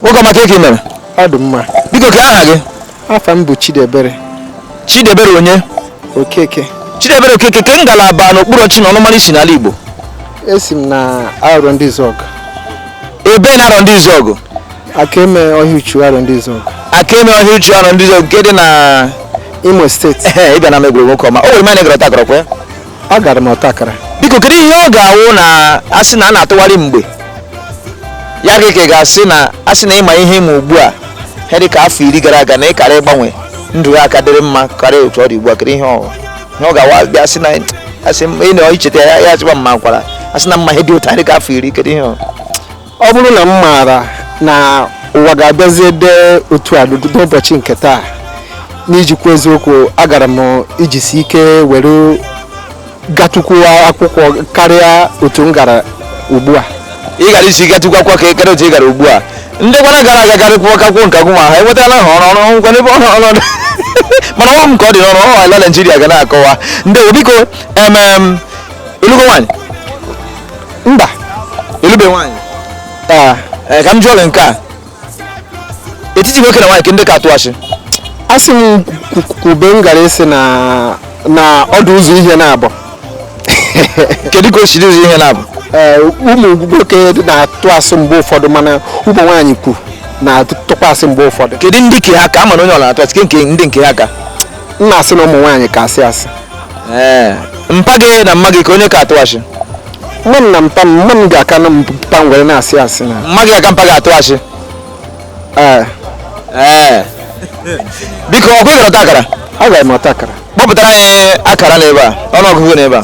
Nwoke ọma kee ke i mere? Ọ dị mma. Biko kee aha gị? Afa m bụ Chidebere. Chidebere onye? Okeke. Chidebere Okeke kee ngalaba na okpuru ọchịchị na ọnụmara i si n'ala Igbo? Esi m na Arọndizuọgụ. Ebee na Arọndizuọgụ? Akeme Ọhịauchu Arọndizuọgụ. Akeme Ọhịauchu Arọndizuọgụ nke dị na Imo steeti. Ị bịa na m egwuregwu nwoke ọma. O nwere ma ị gara ọta akara kwa ya? agara m ọta akara biko kedu ihe ọ ga-awụ na a sị na a na-atụgharị mgbe ya gị ka ga-asị na a sị na ị ma ihe ị ma ugbu a ihe dị ka afọ iri gara aga na ị kara ịgbanwe ndụ ya aka dịrị mma karịa otu ọ dị ugbu a kedu ihe ọ ihe ọ ga-awụ bịa asị na asị m ị na-echeta ya ya achịkwa m makwara a sị na m ma ihe dị otu a dị ka afọ iri kedu ihe ọ ọ bụrụ na m maara na ụwa ga-abịazi dị otu a n'ụbọchị nke taa n'iji kwuo eziokwu agara m ijisi ike were gatukwu akwụkwọ karịa otu m gara ugbu a ị gara isi gatukwu akwụkwọ karịa otu ị gara ugbu a ndị kwanụ gara aga garịkwuo gakwuo nke agwụ ma ha enwetala ha ọrụ ọrụ ngwa n'ebe ọrụ ọrụ mana ọrụ m ka ọ dị n'ọrụ ọrụ ala naijiria ga na-akọwa ndị biko emem ị lụgo nwaanyị mba ị lụbe nwaanyị ah, eh, ka m jụọ gị nke a etiti nwoke na nwaanyị kee ndị ka atụ asị a sị m kwu- kwube m gara ịsị na na ọ dị ụzọ ihe naabọ kedu ka o si dị ụzọ ihe naabọ Ee, ụmụ nwoke na-atụ asị mgbe ụfọdụ mana ụmụ nwaanyị kwu na-atụkwa asị mgbe ụfọdụ kedu ndị nke ha ka a ma na onye ọ na-atụ asị ke nke ndị nke ha ka m na-asị na ụmụ nwaanyị ka asị asị ee mpa gị na mma gị kee onye ka atụ asị mma m na mpa m mma m ga-aka na mpa m were na-asị asị na mma gị aka mpa gị atụ asị ee ee biko ọ kwa ị gara ọta akara agara m ọta akara kpọpụtara anyị akara n'ebe a ọnụọgụgụ n'ebe a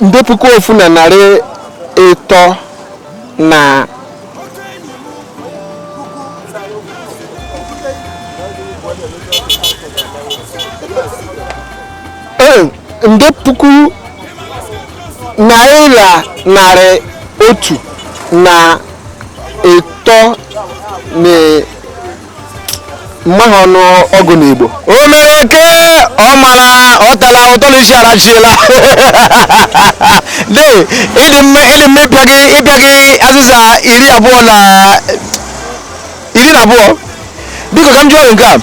nde puku ofu na narị ịtọ na ee, nde puku naira narị otu na ịtọ na m maghị ọnụ ọgụ n'Igbo o mere ke ọ mara ọ tara ụtọ na isi arachiela de ịdị mma ịdị mma ịpịa gị ịpịa gị azịza iri abụọ na iri na abụọ biko ka m jụọ nke a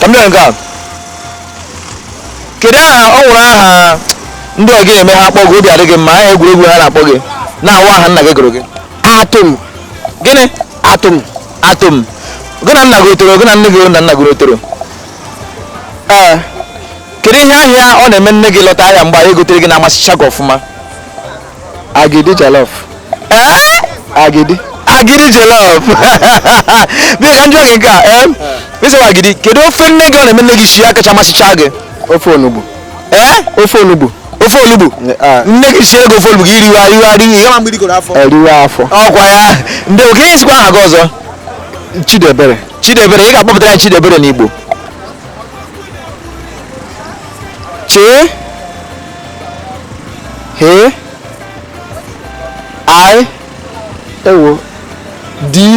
ka m jụọ nke a kedu aha ọ wụrụ aha ndị ọgị na-eme ha akpọ gị obi adị gị mma aha egwuregwu ha na-akpọ gị na-awụghị aha nna gị gụrụ gị Atom gịnị Atom atom gị na nna gị otoro gị na nne gị na nna gị otoro ee kedu ihe ahịa ọ na-eme nne gị lọta ahịa mgbe anyị gotere gị na-amasịcha gị ọfụma agidi jollof ee agidi agidi jollof bịa ka m jụọ gị nke a ee ịsịwa agidi kedu ofe nne gị ọ na-eme nne gị sie ya kacha amasịcha gị ofe onugbu ee ofe onugbu ofe olugbu nne gị siere gị ofe olugbu gị riwa riwa ri ihe ma mgbe rigoro afọ eriwe afọ ọkwa ya ndị kee ihe ị sịkwa aha gị ọzọ chidebere chidebere ị ga-akpọpụtara ya chidebere n'igbo chee he i ewo di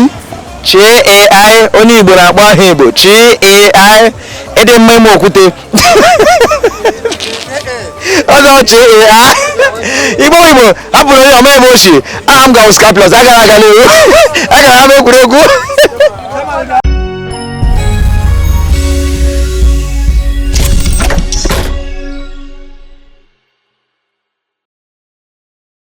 chai onye igbo na-akpọ aha igbo chai ị dị mma ime okwute ọzọ chai igbo igbo hapụrụ onye ọma ebe ochie aha m gawo scaplus agara aga n'ewu agara ha n'egwuregwu